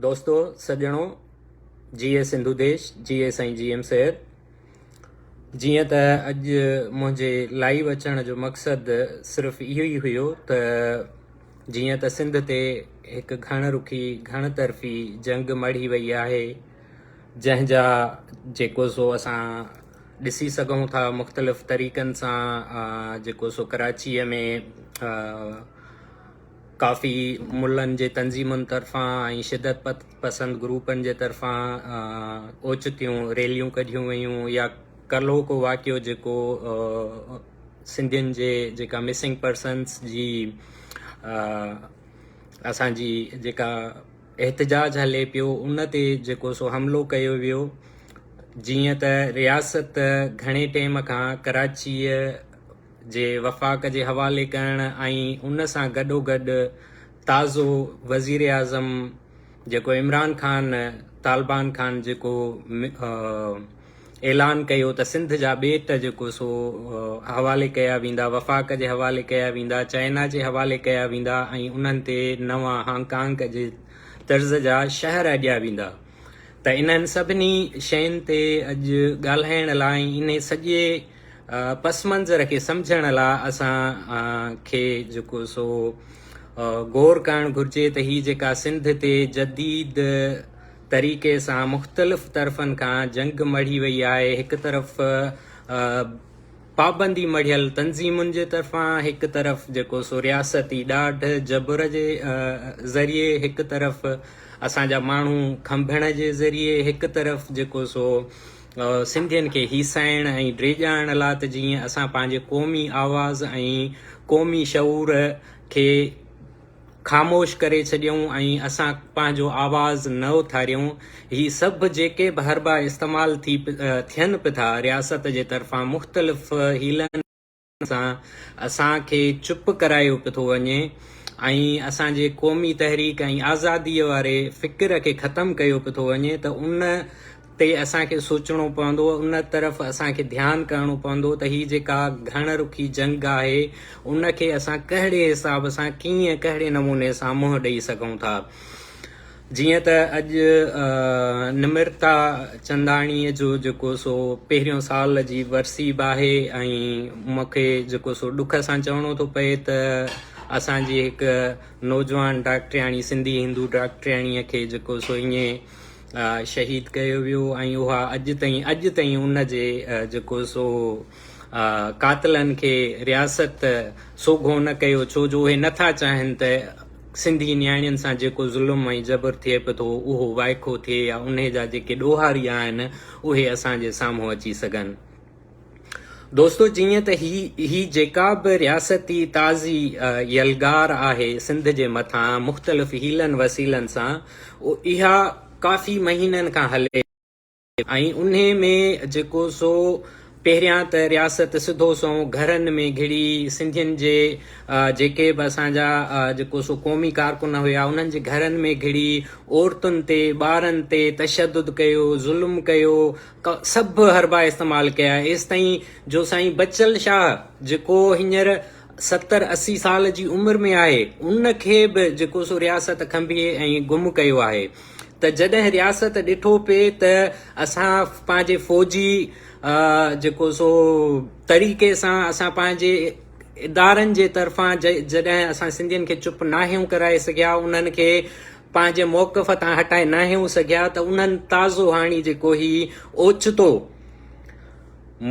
دوستو سڄڻو جي اي سنڌو ديش جي اي سائين جي ايم سيد جيئن ته اڄ منهنجي لائيو اچڻ جو مقصد صرف اهو ئي هيو ته جيئن ته سنڌ تي هڪ گهڻ رخي گهڻ طرفي جنگ مڙهي وئي آهي جنهن جا جيڪو سو اسان ڏسي سگهون ٿا مختلف طريقن سان جيڪو سو ڪراچيء ۾ ڪافي ملن جي تنظيمن طرفان ۽ شدت پسند گروپن جي طرفان اوچتيون ريليون ڪڍيون ويون يا ڪلهو ڪو واقعو جيڪو سنڌين جي جيڪا مسنگ پرسنس جي اسان جي جيڪا احتجاج هلي پيو ان تي جيڪو سو حملو ڪيو ويو جيئن ته رياست گهڻي ٽيم کان ڪراچيء جي وفاق جي حوالي ڪرڻ ۽ ان سان گڏوگڏ تازو وزيراعظم جيڪو عمران خان طالبان خان جيڪو اعلان ڪيو ته سنڌ جا ٻيٽ جيڪو سو حوالي ڪيا ويندا وفاق جي حوالي ڪيا ويندا چائنا جي حوالي ڪيا ويندا ۽ انهن تي نوان هانگ ڪانگ جي طرز جا شهر اڏيا ويندا ته انهن سڀني شين تي اڄ ڳالهائڻ لاء انهي سڄي پسمنظر کي سمجهڻ لا اسان کي جيڪو سو غور ڪرڻ گهرجي ته هي جيڪا سنڌ تي جديد طريقي سان مختلف طرفن کان جنگ مڙهي وئي آهي هڪ طرف پابندي مڙهيل تنظيمن جي طرفان هڪ طرف جيڪو سو رياستي ڏاڍ جبر جي ذريعي هڪ طرف اسان جا ماڻهو کنڀڻ جي ذريعي هڪ طرف جيڪو سو سنڌين کي هيسائڻ ۽ ڊيڄارڻ لا ته جيئن اسان پنهنجي قومي آواز ۽ قومي شعور کي خاموش ڪري ڇڏيون ۽ اسان پنهنجو آواز نه اٿاريون هي سڀ جيڪي به حربا استعمال ٿي ٿين پٿا رياست جي طرفان مختلف حيلن سان اسان کي چپ ڪرايو پيو ٿو وڃي ۽ اسان جي قومي تحريڪ ۽ آزاديء واري فڪر کي ختم ڪيو پيو ٿو وڃي ته ان تي اسان کي سوچڻو پوندو ان طرف اسان کي ڌيان ڪرڻو پوندو ته هي جيڪا گهڻ رخي جنگ آهي ان کي اسان ڪهڙي حساب سان ڪيئن ڪهڙي نموني سان منهن ڏئي سگهون ٿا. جيئن ته اڄ نمرتا چنداڻيء جو جيڪو سو پهريون سال جي ورسي به آهي ۽ مون کي جيڪو سو ڏک سان چوڻو ٿو پئي ته اسان جي هڪ نوجوان ڊاڪٽرياڻي سنڌي هندو ڊاڪٽرياڻيء کي جيڪو سو ائين شهيد ڪيو ويو ۽ اها اڄ تائين اڄ تائين ان جي جيڪو سو قاتلن کي رياست سوگهو نه ڪيو ڇو جو اهي نٿا چاهين ته سنڌي نياڻين سان جيڪو ظلم ۽ جبر ٿئي به ٿو اهو وائکو ٿئي يا انهي جا جيڪي ڏوهاري آهن اهي اسان جي سامهون اچي سگهن. دوستو جيئن ته هي هي جيڪا به رياستي تازي يلغار آهي سنڌ جي مٿان مختلف حيلن وسيلن سان اها ڪافي مهينن کان هلي ۽ انهي ۾ جيڪو سو پهريان ته رياست سڌو سنئون گهرن ۾ گهڙي سنڌين جي جيڪي به اسان جا جيڪو سو قومي ڪارڪن هيا انهن جي گهرن ۾ گهڙي عورتن تي ٻارن تي تشدد ڪيو ظلم ڪيو سڀ حربا استعمال ڪيا ايستائين جو سائين بچل شاهه جيڪو هينئر ستر اسي سال جي عمر ۾ آهي ان کي به جيڪو سو رياست کنڀي ۽ گم ڪيو آهي. ته جڏهن رياست ڏٺو پئي ته اسان پنهنجي فوجي جيڪو سو طريقي سان اسان پنهنجي ادارن جي طرفان جڏهن اسان سنڌين کي چپ ناهيون ڪرائي سگهيا انهن کي پنهنجي موقف تان هٽائي ناهيون سگهيا ته انهن تازو هاڻي جيڪو هي اوچتو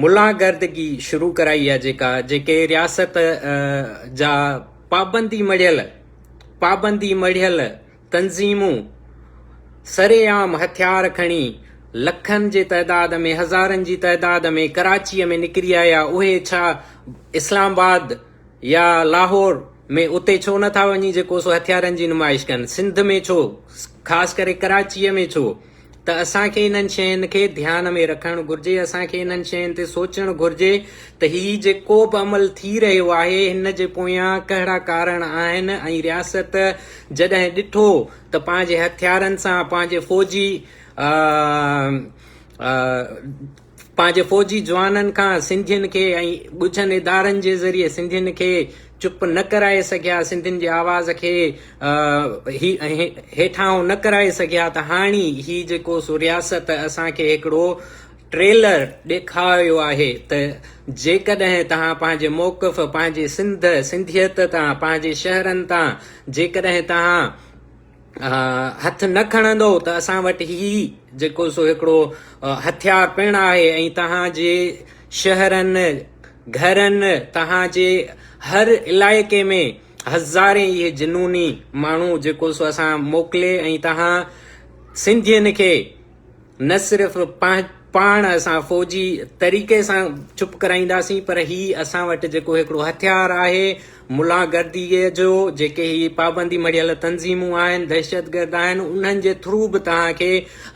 ملاگردگي شروع ڪرائي آ جيڪا جيڪي رياست جا پابندي مڙهيل پابندي مڙهيل تنظيمون سر عام هٿيار کڻي لکن جي تعداد ۾ هزارن جي تعداد ۾ ڪراچيء ۾ نڪري آيا اهي ڇا اسلام آباد يا لاهور ۾ اتي ڇو نه ٿا وڃي جيڪو سو هٿيارن جي نمائش ڪن سنڌ ۾ ڇو خاص ڪري ڪراچيء ۾ ڇو ته اسان کي انهن شين کي ڌيان ۾ رکڻ گهرجي، اسان کي انهن شين تي سوچڻ گهرجي ته هي جيڪوبه عمل ٿي رهيو آهي هن جي پويان ڪهڙا ڪارڻ آهن ۽ رياست جڏهن ڏٺو ته پنهنجي هٿيارن سان پنهنجي فوجي پنهنجي فوجي جوانن کان سنڌين کي ۽ ڳجهن ادارن جي ذريعي سنڌين کي چپ نه ڪرائي سگهيا، سنڌين جي آواز کي هيٺاهون نه ڪرائي سگهيا ته هاڻي هي جيڪو سو رياست اسان کي هڪڙو ٽريلر ڏيکاريو آهي ته جيڪڏهن توهان پنهنجي موقف پنهنجي سنڌ، سنڌيت تان، پنهنجي شهرن تان جيڪڏهن توهان هٿ نه کڻندؤ ته اسان وٽ هي جيڪو سو هڪڙو هٿيار پڻ آهي ۽ توهان جي شهرن، گهرن، توهان جي هر علائقي ۾ هزارين اهي جنوني ماڻهو جيڪو سو اسان موڪلي ۽ توهان سنڌين کي نه صرف پاڻ اسان فوجي طريقي سان چپ ڪرائينداسين پر هي اسان وٽ جيڪو هڪڙو هٿيار آهي ملا گردي جو جيڪي هي پابندي مڙيل تنظيمون آهن دهشتگرد آهن انهن جي ٿرو به توهان کي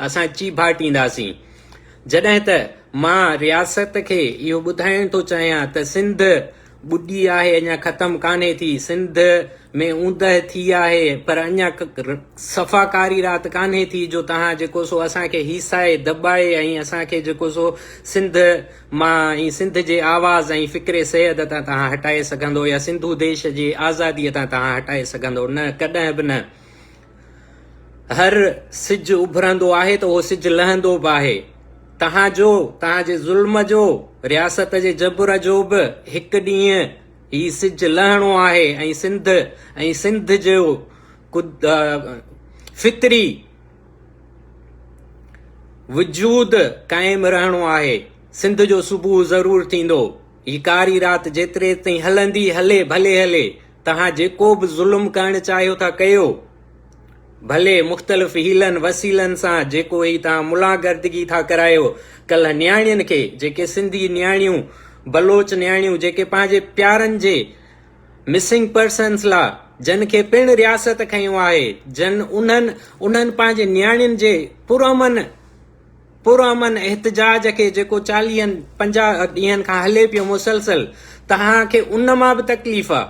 اسان چيڀاٽينداسين جڏهن ته مان رياست کي اهو ٻڌائڻ ٿو چاهيان ته سنڌ ٻڏي آهي اڃا ختم ڪانهي ٿي سنڌ ۾ اوندهه ٿي آهي پر اڃا صفا ڪاري رات ڪانهي ٿي جو تهان جيڪو سو اسان کي هيسائي دٻائي ۽ اسان کي جيڪو سو سنڌ مان ۽ سنڌ جي آواز ۽ فڪر سيد تان تهان هٽائي سگهندو يا سنڌو ديش جي آزادي تان تهان هٽائي سگهندو نه ڪڏهن به نه هر سج اڀرندو آهي ته اهو سج لهندو به آهي توهان جو توهان جي ظلم جو رياست جي جبر جو به هڪ ڏينهن هي سج لهڻو آهي ۽ سنڌ ۽ سنڌ جو فطري وجود قائم رهڻو آهي سنڌ جو صبح ضرور ٿيندو هي ڪاري رات جيتري تائين هلندي هلي ڀلي هلي توهان جيڪو به ظلم ڪرڻ چاهيو ٿا ڪيو، ڀلي مختلف حيلن وسيلن سان جيڪو هي توهان ملان گردگي ٿا ڪرايو، ڪلهه نياڻين کي جيڪي سنڌي نياڻيون بلوچ نياڻيون جيڪي پنهنجي پيارن جي مسنگ پرسنس لا جن کي پڻ رياست کنيو آهي جن انهن انهن پنهنجي نياڻين جي پرامن پرامن احتجاج کي جيڪو چاليهن پنجاهه ڏينهن کان هلي پيو مسلسل توهان کي ان مان به تڪليف آ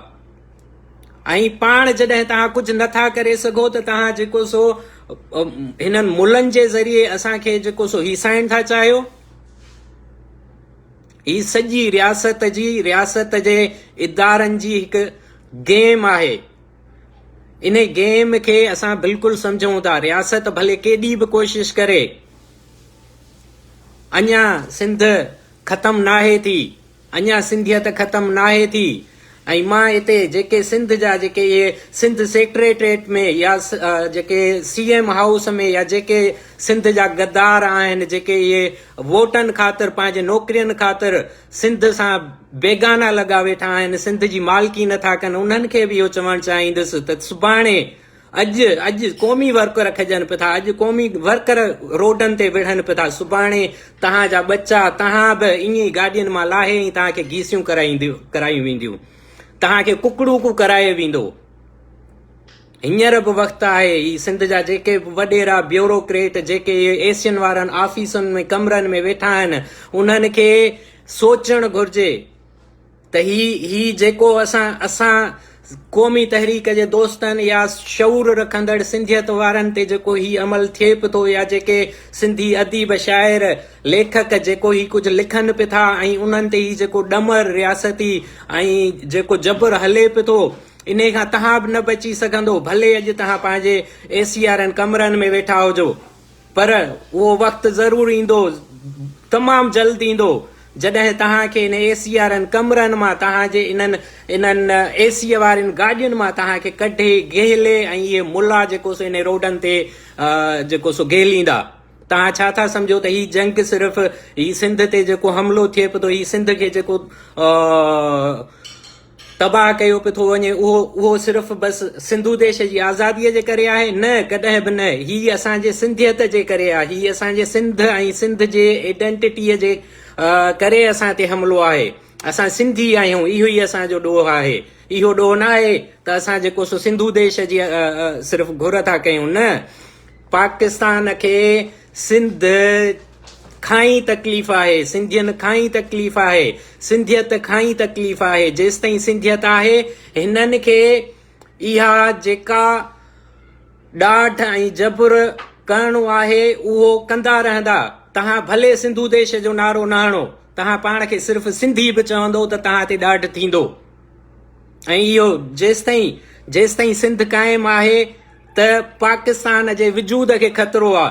۽ پاڻ جڏهن توهان ڪجهه نٿا ڪري سگهو ته توهان جيڪو سو هنن ملن جي ذريعي اسان کي جيڪو سو هيسائڻ ٿا چاهيو هي سڄي رياست جي رياست جي ادارن جي هڪ گيم آهي ان گيم کي اسان بلڪل سمجهون ٿا رياست ڀلي ڪيڏي به ڪوشش ڪري اڃا سنڌ ختم ناهي ٿي اڃا سنڌيت ختم ناهي ٿي ۽ مان هتي جيڪي سنڌ جا جيڪي اهي سنڌ سيڪريٽريٽ ۾ يا جيڪي سي ايم هائوس ۾ يا جيڪي سنڌ جا غدار آهن جيڪي اهي ووٽن خاطر پنهنجي نوڪرين خاطر سنڌ سان بيگانا لڳا ويٺا آهن، سنڌ جي مالڪي نٿا ڪن، انهن کي به اهو چوڻ چاهيندس ته سڀاڻي اڄ اڄ قومي ورڪر کڄن پيو ٿا، اڄ قومي ورڪر روڊن تي وڙهن پيو ٿا، سڀاڻي توهان جا ٻچا توهان به ائين ئي گاڏين مان لاهي ۽ توهان کي گيسيون ڪرايون وينديون، توهان کي ڪڪڙوڪو ڪرايو ويندو. هينئر به وقت آهي، هي سنڌ جا جيڪي به وڏيرا، بيوروڪريٽ، جيڪي اهي ايسين وارن آفيسن ۾ ڪمرن ۾ ويٺا آهن، انهن کي سوچڻ گهرجي ته هي هي جيڪو اسان اسان قومي تحريڪ جي دوستن يا شعور رکندڙ سنڌيت وارن تي جيڪو هي عمل ٿئي به ٿو يا جيڪي سنڌي اديب، شاعر، ليکڪ جيڪو هي ڪجهه لکن به ٿا ۽ انهن تي هي جيڪو ڏمر رياستي ۽ جيڪو جبر هلي به ٿو، انهيء کان تهان به نه بچي سگهندو، ڀلي اڄ تهان پنهنجي اي سي وارن ڪمرن ۾ ويٺا هجو، پر اهو وقت ضرور ايندو، تمام جلد ايندو، جڏهن تهان کي انهن اي سي وارن ڪمرن مان، تهان جي انهن انهن اي سي وارين گاڏين مان تهان کي ڪڍي گهلي ۽ اهي ملا جيڪو سو انهن روڊن تي جيڪو سو گهليندا. تهان ڇا ٿا سمجهو ته هي جنگ صرف هي سنڌ تي جيڪو حملو ٿئي پيو ٿو، هي سنڌ کي جيڪو تباهه ڪيو پيو ٿو وڃي اهو اهو صرف بس سنڌو ديش جي آزادي جي ڪري آهي نه ڪڏهن به نه هي اسان جي سنڌيت جي ڪري آهي هي اسان جي سنڌ ۽ سنڌ جي ايڊنٽٽي جي ڪري اسان تي حملو آهي اسان سنڌي آهيون اهو ئي اسان جو ڏوهه آهي اهو ڏوهه نه آهي ته اسان جيڪو سو سنڌو ديش جي صرف گهر ٿا ڪيون نه پاڪستان کي سنڌ کان ئي تڪليف آهي، سنڌين کان ئي تڪليف آهي، سنڌيت کان ئي تڪليف آهي، جيستائين سنڌيت آهي هنن کي اها جيڪا ڏاڍ ۽ جبر ڪرڻو آهي اهو ڪندا رهندا، توهان ڀلي سنڌو ديش جو نعرو نه هڻو، توهان پاڻ کي صرف سنڌي به چوندو ته توهان تي ڏاڍ ٿيندو ۽ اهو جيستائين جيستائين سنڌ قائم آهي ته پاڪستان جي وجود کي خطرو آ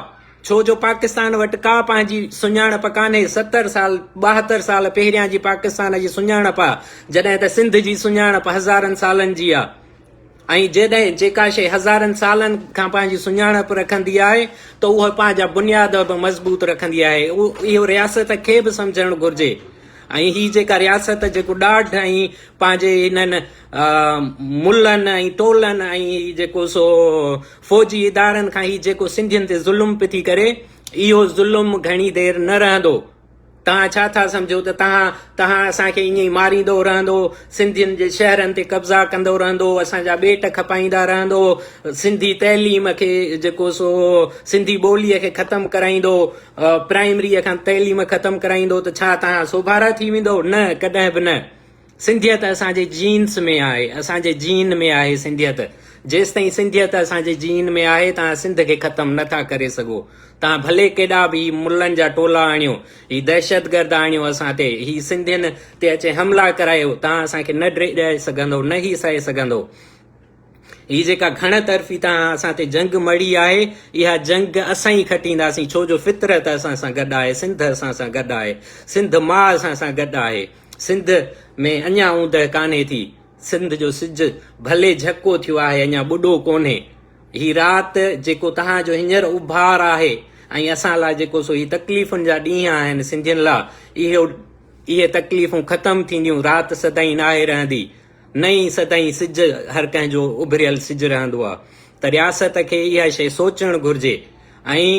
ڇو جو پاڪستان وٽ ڪا پنهنجي سڃاڻپ ڪانهي ستر سال ٻاهتر سال پهريان جي پاڪستان جي سڃاڻپ آ جڏهن ته سنڌ جي سڃاڻپ هزارن سالن جي آ ۽ جيڏهن جيڪا شي هزارن سالن کان پنهنجي سڃاڻپ رکندي آهي ته اهو پنهنجا بنياد به مضبوط رکندي آهي اهو رياست کي به سمجهڻ گهرجي ۽ هي جيڪا رياست جيڪو ڏاڍ ۽ پنهنجي انهن ملن ۽ ٽولن ۽ هي جيڪو سو فوجي ادارن کان هي جيڪو سنڌين تي ظلم پي ٿي ڪري اهو ظلم گهڻي دير نه رهندو تان ڇا ٿا سمجھو ته تان تان اسان کي ائين ماريندو رهندو سنڌين جي شهرن تي قبضا ڪندو رهندو اسان جا ٻيٽ کپائيندا رهندو سنڌي تعليم کي جيڪو سو سنڌي ٻولي کي ختم ڪرائيندو پرائمري کان تعليم ختم ڪرائيندو ته ڇا تان سوڀارا ٿي ويندو نه ڪڏهن به نه سنڌيت اسان جي جينز ۾ آهي، اسان جي جين ۾ آهي سنڌيت. جيستائين سنڌيت اسان جي جين ۾ آهي توهان سنڌ کي ختم نه ٿا ڪري سگهو. توهان ڀلي ڪيڏا به هي ملن جا ٽولا آڻيو، هي دهشتگرد آڻيو اسان تي، هي سنڌين تي اچي حملا ڪرايو، توهان اسان کي نه ڊهي سگهندئو نه هي سهي سگهندئو. هي جيڪا گهڻ طرفي تان اسان تي جنگ مڙهي آهي، اها جنگ اسان ئي کٽينداسين، ڇو جو فطرت اسان سان گڏ آهي، سنڌ اسان سان گڏ آهي، سنڌ ماء اسان سان گڏ آهي، سنڌ ۾ اڃا اوندهه ڪانهي ٿي، سنڌ جو سج ڀلي جهڪو ٿيو آهي، اڃا ٻڏو ڪونهي، هي رات جيڪو توهان جو هينئر اڀار آهي ۽ اسان لاء جيڪو سو هي تڪليفن جا ڏينهن آهن سنڌين لاء، اهي تڪليفون ختم ٿينديون، رات سدائين ناهي رهندي. نئين سدائين سج هر ڪنهن جو اڀريل سج رهندو آ ته رياست کي اها شيء سوچڻ گهرجي ۽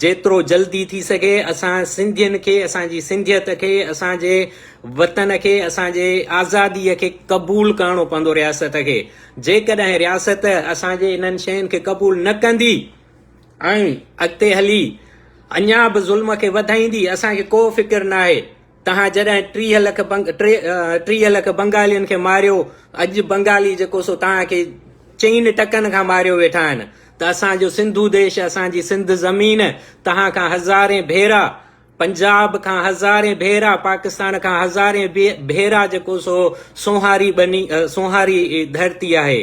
جيترو جلدي ٿي سگهي اسان سنڌين کي اسان جي سنڌيت کي اسان جي وطن کي اسان جي آزادي کي قبول ڪرڻو پوندو رياست کي جيڪڏهن رياست اسان جي انهن شين کي قبول نه ڪندي ۽ اڳتي هلي اڃا به ظلم کي وڌائيندي اسان کي ڪو فڪر ناهي. توهان جڏهن ٽيهه لک ٽيهه لک بنگالين کي ماريو اڄ بنگالي جيڪو سو توهان کي چئن ٽڪن کان ماريو ويٺا آهن ته اسان جو سنڌو ديش اسان جي سنڌ زمين توهان کان هزارين ڀيرا پنجاب کان هزارين ڀيرا پاڪستان کان هزارين ڀيرا جيڪو سو سونهاري ٻني سونهاري ڌرتي آهي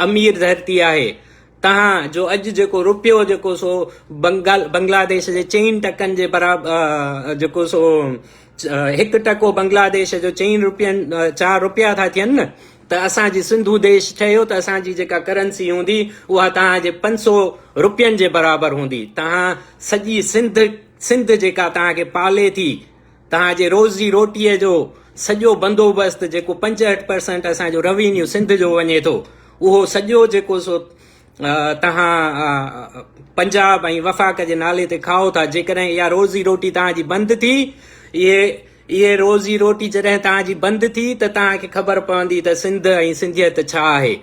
امير ڌرتي آهي توهان جو اڄ جيڪو روپيو جيڪو سو بنگلاديش جي چئن ٽڪن جي برابر جيڪو سو هڪ ٽڪو بنگلاديش جو چئن روپين چار روپيا ٿا ٿين نه ته اسان جي سنڌو ديش ٺهيو ته اسان جي جيڪا ڪرنسي هوندي اها توهان جي پنج سو روپين جي برابر هوندي توهان سڄي سنڌ سنڌ جيڪا توهان کي پالي ٿي توهان جي روزي روٽيء جو سڄو بندوبست جيڪو پنجهٺ پرسنٽ اسان جو روينيو سنڌ جو وڃي ٿو اهو سڄو جيڪو سو توهان پنجاب ۽ وفاق جي نالي تي کائو ٿا جيڪڏهن اها روزي روٽي توهان جي بند ٿي اهي اهي روزي روٽي جڏهن توهان جي بند ٿي ته توهان کي خبر پوندي ته سنڌ ۽ سنڌيت ڇا آهي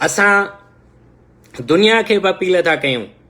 اسان دنيا کي به اپيل ٿا ڪيون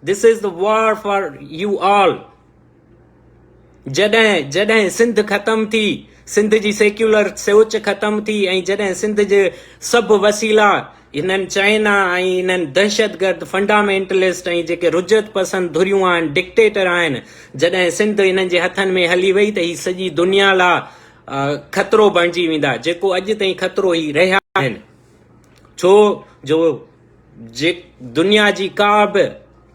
This is the war for you all جڏهن جڏهن سنڌ ختم ٿي سنڌ جي سيڪيولر سوچ ختم ٿي ۽ جڏهن سنڌ جي سڀ وسيلا هنن چائنا ۽ هنن دهشتگرد فنڊامينٽلسٽ ۽ جيڪي رجعت پسند ڌريون آهن ڊڪٽيٽر آهن جڏهن سنڌ هنن جي هٿن ۾ هلي وئي ته هي سڄي دنيا لا خطرو بڻجي ويندا جيڪو اڄ تائين خطرو هي رهيا آهن ڇو جو دنيا جي ڪا به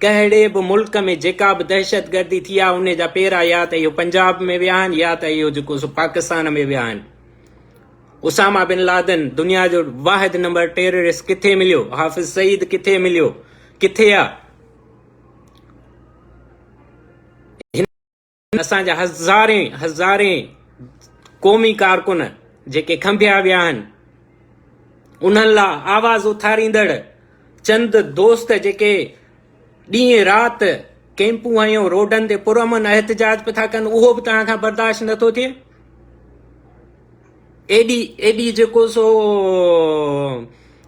ڪهڙي به ملڪ ۾ جيڪا به دهشتگردي ٿي آهي ان جا پيرا يا ته اهو پنجاب ۾ ويا آهن يا ته اهو جيڪو سو پاڪستان ۾ ويا آهن اساما بن لادن دنيا جو واحد نمبر ٽيررسٽ ڪٿي مليو حافظ سعيد ڪٿي مليو ڪٿي آ اسان جا هزارين هزارين قومي ڪارڪن جيڪي کنڀيا ويا آهن انهن لا آواز اٿاريندڙ چند دوست جيڪي ڏينهن رات ڪيمپون هنيو روڊن تي پرامن احتجاج پيا ٿا ڪن اهو به توهان کان برداشت نٿو ٿئي ايڏي ايڏي جيڪو سو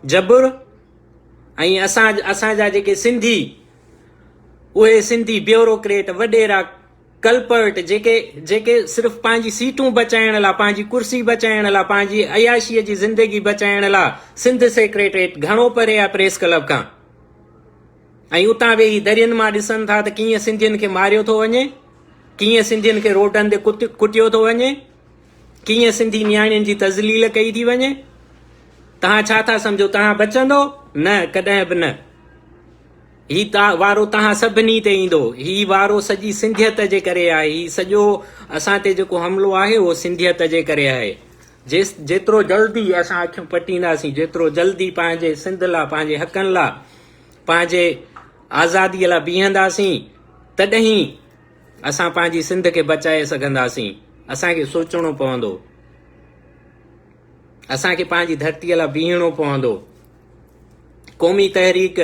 جبر ۽ اسان اسان جا جيڪي سنڌي اهي سنڌي بيوروڪريٽ وڏيرا ڪلپرٽ جيڪي جيڪي صرف پنهنجي سيٽون بچائڻ لا پنهنجي ڪرسي بچائڻ لا پنهنجي عياشيء جي زندگي بچائڻ لا سنڌ سيڪريٽريٽ گهڻو پري آهي پريس ڪلب کان ۽ اتان ويهي درين مان ڏسن ٿا ته ڪيئن سنڌين کي ماريو ٿو وڃي ڪيئن سنڌين کي روڊن تي ڪٽيو ٿو وڃي ڪيئن سنڌي نياڻين جي تذليل ڪئي ٿي وڃي تان ڇا ٿا سمجھو تان بچندو نه ڪڏهن به نه هي وارو توهان سڀني تي ايندو. هي وارو سڄي سنڌيت جي ڪري آهي. هي سڄو اسان تي جيڪو حملو آهي اهو سنڌيت جي ڪري آهي. جيترو جلدي اسان اکيون پٽينداسين، جيترو جلدي پنهنجي سنڌ لا، پنهنجي حقن لا، پنهنجي آزادي لا بيهنداسين تڏهين اسان پنهنجي سنڌ کي بچائي سگهنداسين. اسان کي سوچڻو پوندو. اسان کي پنهنجي ڌرتي لا بيهڻو پوندو. قومي تحريڪ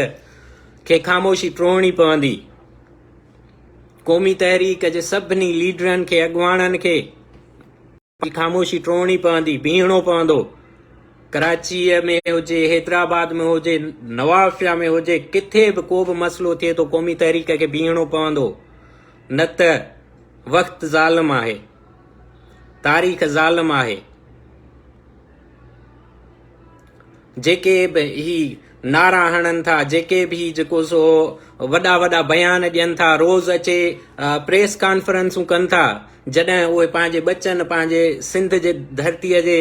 کي خاموشي ٽوڙڻي پوندي. قومي تحريڪ جي سڀني ليڊرن کي اڳواڻن کي پنهنجي خاموشي ٽوڙڻي پوندي، بيهڻو پوندو. ڪراچيء ۾ هجي، حيدرآباد ۾ هجي، نوابشاهه ۾ هجي، ڪٿي به ڪو به مسئلو ٿئي ٿو قومي تحريڪ کي بيهڻو پوندو نه ته وقت ظالم آهي، تاريخ ظالم آهي. جيڪي به هي نعرا هڻن ٿا، جيڪي به هي جيڪو سو وڏا وڏا بيان ڏين ٿا، روز اچي پريس ڪانفرنسون ڪن ٿا، جڏهن اهي پنهنجي ٻچن، پنهنجي سنڌ جي ڌرتيء جي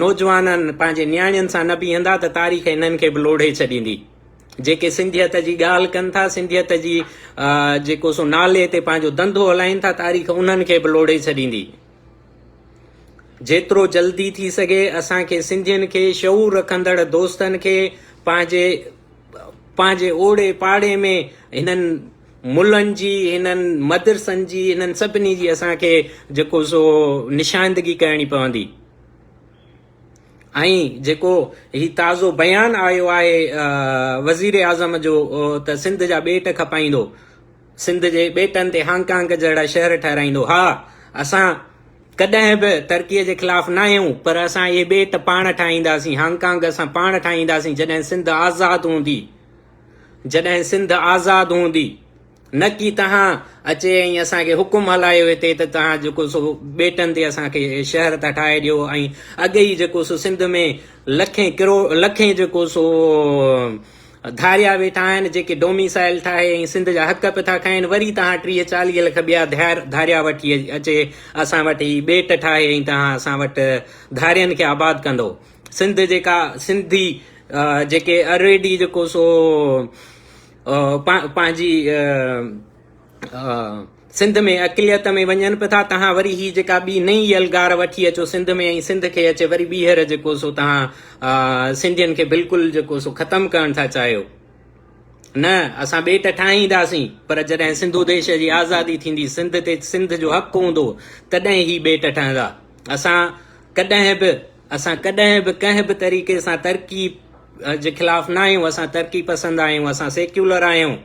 نوجوانن، پنهنجي نياڻين سان نه بيهندا ته تاريخ هنن کي به لوڙهي ڇڏيندي. جيڪي سنڌيت جي ڳالهه ڪن ٿا، سنڌيت جي جيڪو سو نالي تي پنهنجو ڌنڌو هلائين ٿا، تاريخ انهن کي به لوڙهي ڇڏيندي. جيترو جلدي ٿي سگهي اسان کي سنڌين کي شعور رکندڙ دوستن کي پنهنجي پنهنجي اوڙي پاڙي ۾ هنن ملن جي هنن مدرسن جي هنن سڀني جي اسان کي جيڪو سو نشاندگي ڪرڻي پوندي ۽ جيڪو هي تازو بيان آيو آهي وزير اعظم جو ته سنڌ جا ٻيٽ کپائيندو سنڌ جي ٻيٽن تي هانگ ڪانگ جهڙا شهر ٺهرائيندو. ها، اسان ڪڏهن به ترڪيء جي خلاف ناهيون، پر اسان اهي ٻيٽ پاڻ ٺاهينداسين، هانگ ڪانگ اسان پاڻ ٺاهينداسين جڏهن سنڌ آزاد هوندي، جڏهن سنڌ آزاد هوندي، نه ڪي توهان اچي ۽ اسان کي حڪم هلايو هتي ته توهان جيڪو سو ٻيٽن تي اسان کي شهر ٿا ٺاهي ڏيو ۽ اڳ ئي جيڪو سو سنڌ ۾ لکين ڪروڙ لکين جيڪو سو ڌاريا ويٺا آهن جيڪي ڊوميسائيل ٺاهي ۽ سنڌ جا حق به ٿا کائين وري تهان ٽيهه چاليهه لک ٻيا ڌار ڌاريا وٺي اچي اسان وٽ هي ٻيٽ ٺاهي ۽ تهان اسان وٽ ڌارين کي آباد ڪندو سنڌ جيڪا سنڌي جيڪي الريڊي جيڪو سو پنهنجي سنڌ ۾ اقليت ۾ وڃن به ٿا تهان وري هي جيڪا ٻي نئين يلغار وٺي اچو سنڌ ۾ ۽ سنڌ کي اچي وري ٻيهر جيڪو سو تهان سنڌين کي بلڪل جيڪو سو ختم ڪرڻ ٿا چاهيو نه اسان ٻيٽ ٺاهينداسين پر جڏهن سنڌو ديش جي آزادي ٿيندي سنڌ تي سنڌ جو حق هوندو تڏهن هي ٻيٽ ٺهندا اسان ڪڏهن به اسان ڪڏهن به ڪنهن به طريقي سان ترقي جي خلاف نه آهيون اسان ترقي پسند آهيون اسان سيڪيولر آهيون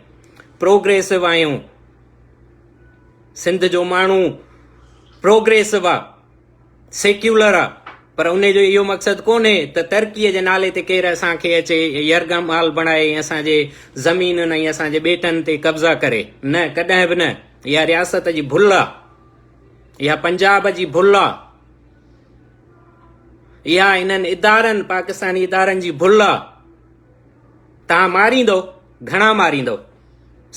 پروگريسو آهيون سنڌ جو ماڻهو پروگريسو آ سيڪيولر آ پر ان جو اهو مقصد ڪونهي ته ترقي جي نالي تي ڪير اسان کي اچي يرغا مال بڻائي ۽ اسان جي زمينن ۽ اسان جي ٻيٽن تي قبضا ڪري نه ڪڏهن به نه اها رياست جي ڀل آ اها پنجاب جي ڀل آ اها انهن ادارن پاڪستاني ادارن جي ڀل آ تان ماريندو گهڻا ماريندو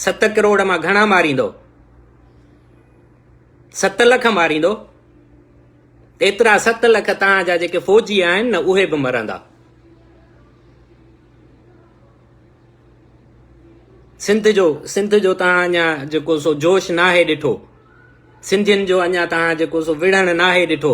ست ڪروڙ مان گهڻا ماريندو ست لک ماريندو ايترا ست لک تان جا جيڪي فوجي آهن نه اهي به مرندا سنڌ جو سنڌ جو تان اڃا جيڪو سو جوش ناهي ڏٺو سنڌين جو اڃا تان جيڪو سو وڙهڻ ناهي ڏٺو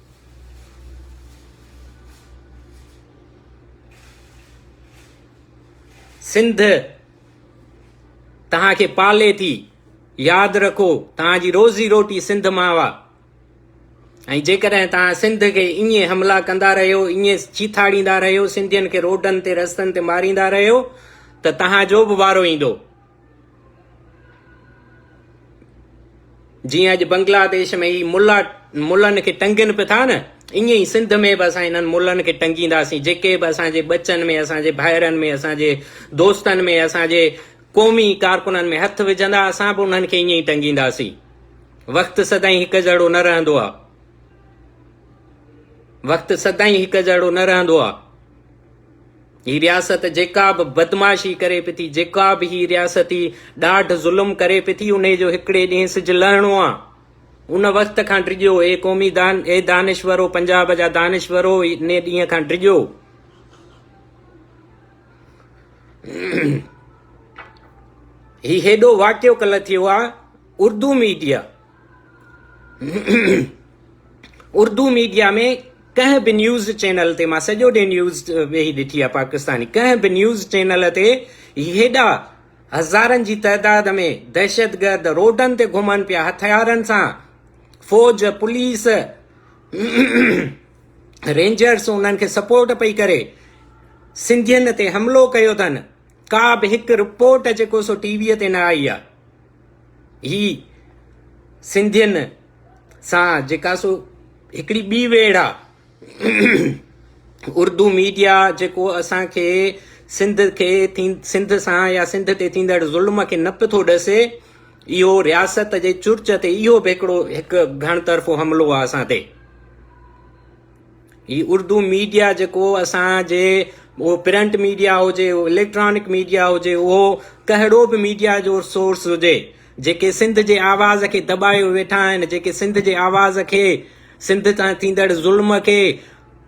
سنڌ توهان کي پالي ٿي ياد رکو توهان جي روزي روٽي سنڌ مان آ ۽ جيڪڏهن توهان سنڌ کي ائين حملا ڪندا رهيو ائين چيٿاڙيندا رهيو سنڌين کي روڊن تي رستن تي ماريندا رهيو ته توهان جو به وارو ايندو جيئن اڄ بنگلاديش ۾ هي ملا ملن کي ٽنگين پيا ٿا نه ائين ئي سنڌ ۾ به اسان انهن ملن کي ٽنگينداسين جيڪي به اسان جي ٻچن ۾ اسان جي ڀائرن ۾ اسان جي دوستن ۾ اسان جي قومي ڪارڪنن ۾ هٿ وجھندا اسان به انهن کي ائين ئي ٽنگينداسين وقت سدائين هڪ جهڙو نه رهندو آهي وقت سدائين هڪ جهڙو نه رهندو آهي هي رياست جيڪا به بدمعاشي ڪري پئي ٿي، جيڪا به هي رياست هي ڏاڍ ظلم ڪري پئي ٿي، انهي جو هڪڙي ڏينهن سج لهڻو آ. ان وقت کان ڊڄو اي قومي دان، اي دانشورو، پنجاب جا دانشورو انهي ڏينهن کان ڊڄو. هي هيڏو واقعو ڪلهه ٿيو آ، اردو ميڊيا اردو ميڊيا ۾ ڪنهن به نيوز چينل تي مان سڄو ڏينهن نيوز ويهي ڏٺي آهي پاڪستاني ڪنهن به نيوز چينل تي هيڏا هزارن جي تعداد ۾ دهشتگرد روڊن تي گهمن پيا هٿيارن سان فوج پوليس رينجرس انهن کي سپورٽ پئي ڪري سنڌين تي حملو ڪيو اٿن ڪا به هڪ رپورٽ جيڪو سو ٽي ويء تي نه آئي آهي هي سنڌين سان جيڪا سو هڪڙي ٻي ويڙ آ اردو ميڊيا جيڪو اسان کي سنڌ کي سنڌ سان يا سنڌ تي ٿيندڙ ظلم کي نه پيو ٿو ڏسي اهو رياست جي چرچ تي اهو به هڪڙو هڪ گهڻ طرفو حملو آ اسان تي هي اردو ميڊيا جيڪو اسانجي اهو پرنٽ ميڊيا هجي اهو اليڪٽرانڪ ميڊيا هجي اهو ڪهڙو به ميڊيا جو سورس هجي جيڪي سنڌ جي آواز کي دٻايو ويٺا آهن جيڪي سنڌ جي آواز کي سنڌ تان ٿيندڙ ظلم کي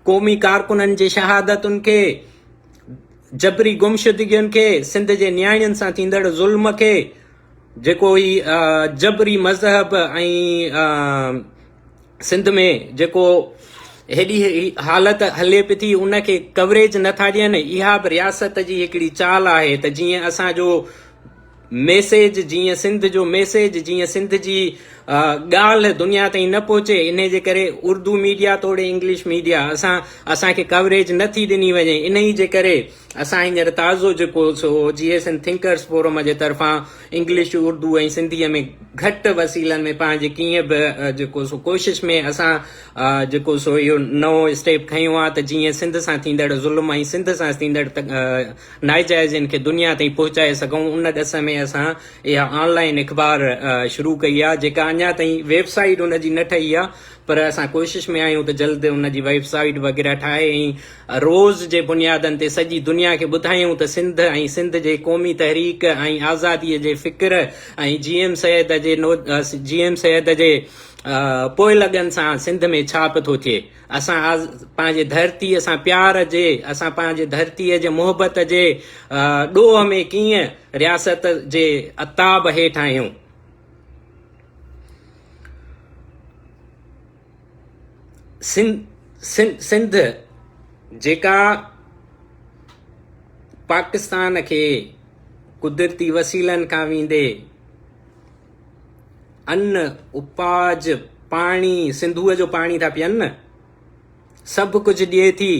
قومي ڪارڪنن جي شهادتن کي جبري گمشدگين کي سنڌ جي نياڻين سان ٿيندڙ ظلم کي جيڪو هي جبري مذهب ۽ سنڌ ۾ جيڪو هيڏي حالت هلي پي ٿي ان کي ڪوريج نٿا ڏين اها به رياست جي هڪڙي چال آهي ته جيئن اسان جو ميسيج جيئن سنڌ جو ميسيج جيئن سنڌ جي ڳالهه دنيا تائين نه پهچي ان جي ڪري اردو ميڊيا توڙي انگلش ميڊيا اسان اسانکي ڪوريج نٿي ڏني وڃي ان جي ڪري اسان هينئر تازو جيڪو سو G S N thinkers forum جي طرفان انگلش، اردو ۽ سنڌيء ۾ گهٽ وسيلن ۾ پنهنجي ڪيئن به جيڪو سو ڪوشش ۾ اسان جيڪو سو اهو نئون اسٽيپ کنيو آهي ته جيئن سنڌ سان ٿيندڙ ظلم ۽ سنڌ سان ٿيندڙ ناجائزين کي دنيا تائين پهچائي سگهون ان ڏس ۾ اسان اها آن لائين اخبار شروع ڪئي آهي جيڪا اڃا تائين ويب سائيٽ ان جي نه ٺهي آهي پر اسان ڪوشش ۾ آهيون ته جلد ان جي ويب سائيٽ وغيره ٺاهي ۽ روز جي بنيادن تي سڄي دنيا کي ٻڌايون ته سنڌ ۽ سنڌ جي قومي تحريڪ ۽ آزادي جي فڪر ۽ جي ايم سيد جي جي ايم سيد جي پوئلڳن سان سنڌ ۾ ڇا پٿو ٿئي اسان پنهنجي ڌرتي سان پيار جي اسان پنهنجي ڌرتي جي محبت جي ڏوهه ۾ ڪيئن رياست جي عتاب هيٺ آهيون. سنڌ جيڪا پاڪستان کي قدرتي وسيلن کان ويندي ان اپاج پاڻي سنڌوء جو پاڻي ٿا پيئن نه سڀ ڪجهه ڏئي ٿي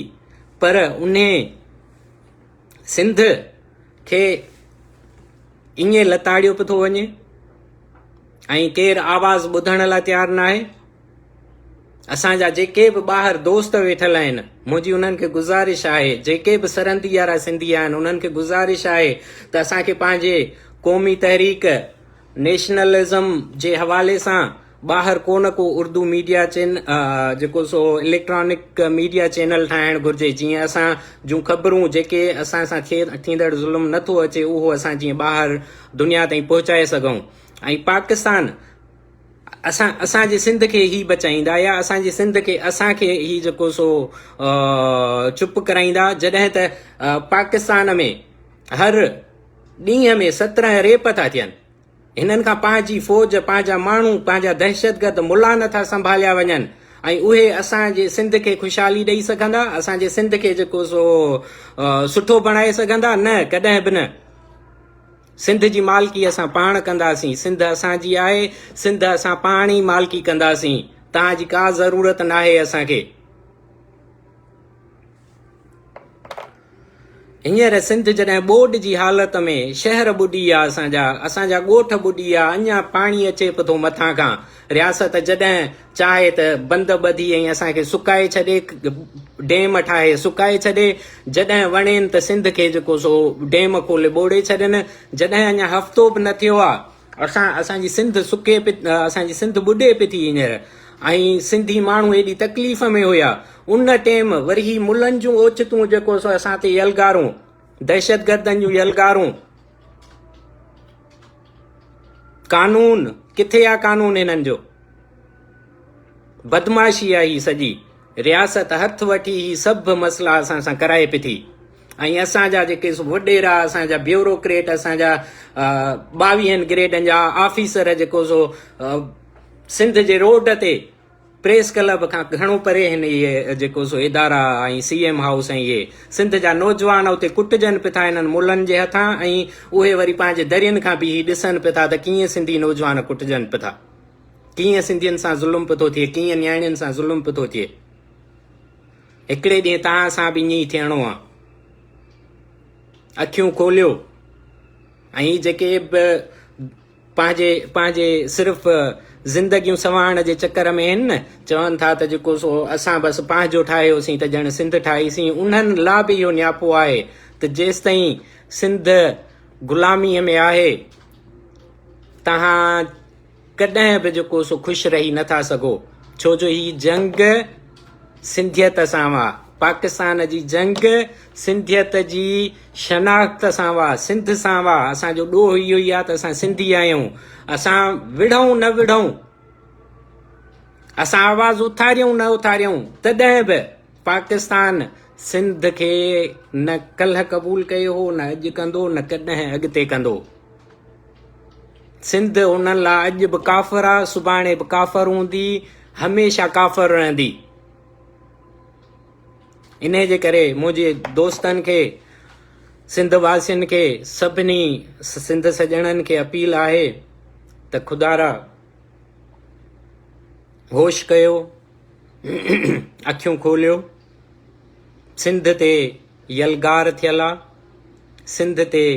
پر انهي سنڌ کي ايئن لتاڙيو پيو ٿو وڃي ۽ ڪير آواز ٻڌڻ لاء تيار نه آهي اسان جا جيڪي به ٻاهر دوست ويٺل آهن منهنجي انهن کي گزارش آهي جيڪي به سرندي يارا سنڌي آهن انهن کي گزارش آهي ته اسان کي پنهنجي قومي تحريڪ نيشنلزم جي حوالي سان ٻاهر ڪو نه ڪو اردو ميڊيا چين جيڪو سو اليڪٽرانڪ ميڊيا چينل ٺاهڻ گهرجي جيئن اسان جون خبرون جيڪي اسان سان ٿيندڙ ظلم نٿو اچي اهو اسان جيئن ٻاهر دنيا تائين پهچائي سگهون ۽ پاڪستان اسان اسان جي سنڌ کي هي بچائيندا يا اسان جي سنڌ کي اسان کي هي جيڪو سو چپ ڪرائيندا جڏهن ته پاڪستان ۾ هر ڏينهن ۾ سترهن ريپ ٿا ٿين هنن کان پنهنجي فوج، پنهنجا ماڻهو، پنهنجا دهشتگرد ملا نٿا سنڀاليا وڃن ۽ اهي اسان جي سنڌ کي خوشحالي ڏئي سگهندا، اسان جي سنڌ کي جيڪو سو سٺو بڻائي سگهندا؟ نه، ڪڏهن به نه. سنڌ جي مالڪي اسان پاڻ ڪنداسين، سنڌ اسان جي آهي، سنڌ اسان پاڻ ئي مالڪي ڪنداسين، توهان جي ڪا ضرورت ناهي اسان کي. هينئر سنڌ جڏهن ٻوڏ جي حالت ۾ شهر ٻڏي آ اسان جا اسان جا ڳوٺ ٻڏي آ اڃا پاڻي اچي پٿو مٿان کان رياست جڏهن چاهي ته بند ٻڌي ۽ اسان کي سڪائي ڇڏي ڊيم ٺاهي سڪائي ڇڏي جڏهن وڻين ته سنڌ کي جيڪو سو ڊيم کولي ٻوڙي ڇڏين جڏهن اڃا هفتو به نه ٿيو آ اسان اسان جي سنڌ سڪي پي اسان جي سنڌ ٻڏي پي ٿي هينئر ۽ سنڌي ماڻهو هيڏي تڪليف ۾ هيا ان ٽيم وري هي ملن جون اوچتون جيڪو سو اسان تي يلغارون دهشت گردن جون يلغارون قانون ڪٿي آ قانون هنن جو بدمعاشي آ هي سڄي رياست هٿ وٺي هي سڀ مسئلا اسان سان ڪرائي پي ٿي ۽ اسان جا جيڪي وڏيرا، اسان جا بيوروڪريٽ، اسان جا ٻاويهن گريڊن جا آفيسر جيڪو سو سنڌ جي روڊ تي پريس ڪلب کان گهڻو پري هن اهي جيڪو سو ادارا ۽ سي ايم هائوس ۽ اهي سنڌ جا نوجوان اتي ڪٽجن پٿا انهن ملن جي هٿان ۽ اهي وري پنهنجي درين کان بيهي ڏسن پٿا ته ڪيئن سنڌي نوجوان ڪٽجن پٿا ڪيئن سنڌين سان ظلم پٿو ٿئي ڪيئن نياڻين سان ظلم پٿو ٿئي. هڪڙي ڏينهن توهان سان به ائين ئي ٿيڻو آ. اکيون کوليو ۽ جيڪي به پنهنجي پنهنجي صرف زندگيون سنوارڻ جي چڪر ۾ آهن نه چون ٿا ته جيڪو سو اسان بس پنهنجو ٺاهيوسين ته ڄڻ سنڌ ٺاهيسين انهن لا به اهو نياپو آهي ته جيستائين سنڌ غلاميء ۾ آهي توهان ڪڏهن به جيڪو سو خوش رهي نه ٿا سگهو ڇو جو هي جنگ سنڌيت سان هئا پاڪستان جي جنگ سنڌيت جي شناخت سان هئا سنڌ سان هئا اسان جو ڏوهه اهو ئي آهي ته اسان سنڌي آهيون اسان وڙهون نه وڙهون اسان آواز اٿاريون نه اٿاريون تڏهن به پاڪستان سنڌ کي نه ڪلهه قبول ڪيو هو نه اڄ ڪندو نه ڪڏهن اڳتي ڪندو سنڌ انهن لاء اڄ به ڪافر آ سڀاڻي به ڪافر هوندي هميشه ڪافر رهندي ان جي ڪري منهنجي دوستن کي سنڌ واسين کي سڀني سنڌ سڄڻن کي اپيل آهي ته خدا را هوش ڪيو اکيون کوليو سنڌ تي يلغار ٿيل آ، سنڌ تي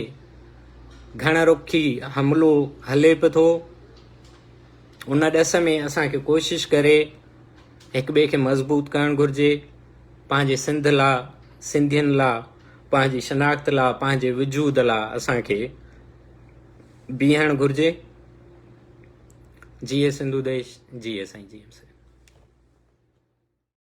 گهڻ رخي حملو هلي به ٿو، ان ڏس ۾ اسان کي ڪوشش ڪري هڪ ٻئي کي مضبوط ڪرڻ گهرجي، پنهنجي سنڌ لا، سنڌين لا، پنهنجي شناخت لا، پنهنجي وجود لا اسان کي بيهڻ گهرجي، جيئي سنڌو ديش، جيئي سائين جي ايم سائين.